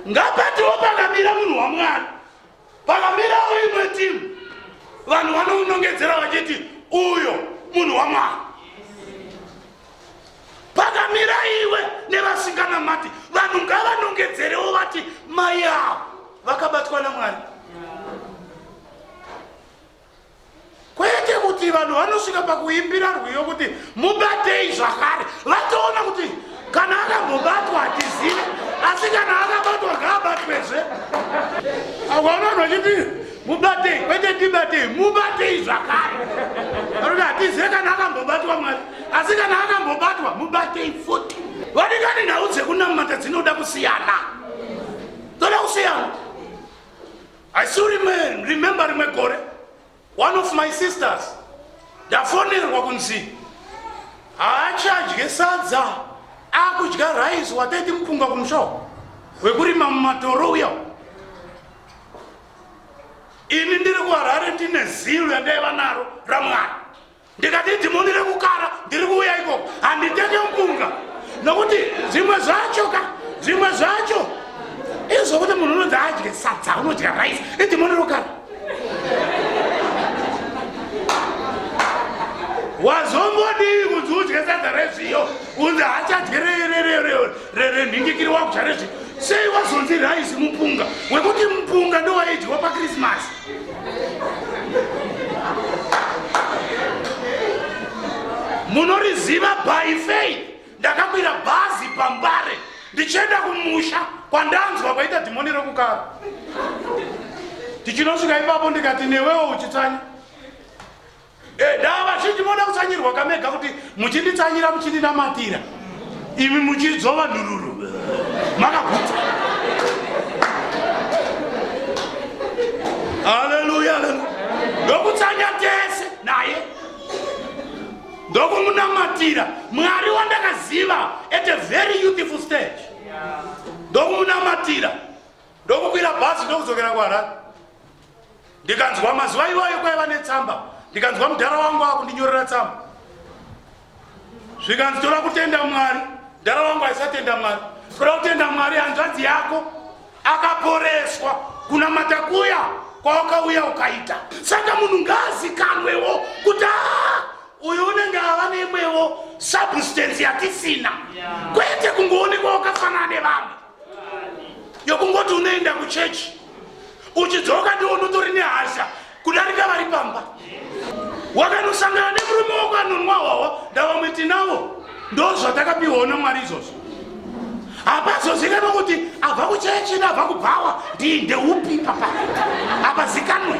Ngapatiwo pakamira munhu waMwari, pakamirawo imwe timu, vanhu vanounongedzera vachiti uyo munhu waMwari. Pakamira iwe nevasinganamati, vanhu ngavanongedzerewo vati mai avo vakabatwa naMwari. kwete kuti vanhu vanosvika pakuimbira rwiyo kuti mubatei zvakare vatoona kuti kana akambobatwa hatizive asi kana akabatwa ngaabatwezve akaona vanhu vachiti mubatei kwete tibatei mubatei zvakare anoda hatizive kana akambobatwa mwari asi kana akambobatwa mubatei futi vadikani nhau dzekunamata dzinoda kusiyana dzoda kusiyana I still remember, remember rimwe gore one of my sisters ndafonerwa kunzi haachadye sadza akudya rice wataiti mupunga kumushawo wekurima mumatoro uya ini ndiri kuharare ndine zilo yandaiva naro ramwana ndikati dhimoni rekukara ndiri kuuya ikoko handitenge mupunga nokuti zvimwe zvacho ka zvimwe zvacho izvokuti munhu unonzi adye sadza unodya rice idhimoni rekukara wazombodii kunzi udye sadza rezviyo unzi hachadye renhingikiri wakudya rezviyo sei wazonzi rice mupunga wekuti mupunga ndowaidyiwa pakrismasi munoriziva by faith ndakakwira bhazi pambare ndichienda kumusha kwandanzwa kwaita dhimoni rekukara tichinosvika ipapo ndikati newewo uchitsanya Edaa vazhinji moda kutsanyirwa kamega kuti muchinditsanyira muchindinamatira imi muchidzova nhururu makagutsa. Haleluya, haleluya. Ndokutsanya tese naye ndokumunamatira mwari wandakaziva at a very youthful stage ndokumunamatira ndokukwira bhazi ndokudzokera kuharare ndikanzwa mazuva iwayo kwaiva netsamba ndikanzwa mudhara wangu akundinyorera tsamba zvikanzi toda kutenda mwari mudhara wangu aisatenda mwari toda kutenda mwari hanzvanzi yako akaporeswa kuna matakuya kwawakauya ukaita saka munhu ngaazikanwewo kuti aa uyu unenge ava neimwewo substance yatisina kwete kungoonekwa wakafanana nevamwe yokungoti unoenda kuchechi uchidzoka ndiwo unotori nehasha kudarika vari pamba wakanosangana nemurume wako anonwa hwawa ndavamwiti navo ndo zvatakapiwawo namwari izvozvo hapazozikanwa kuti abva kuchechi neabva kubhawa ndii ndeupi papa hapazikanwe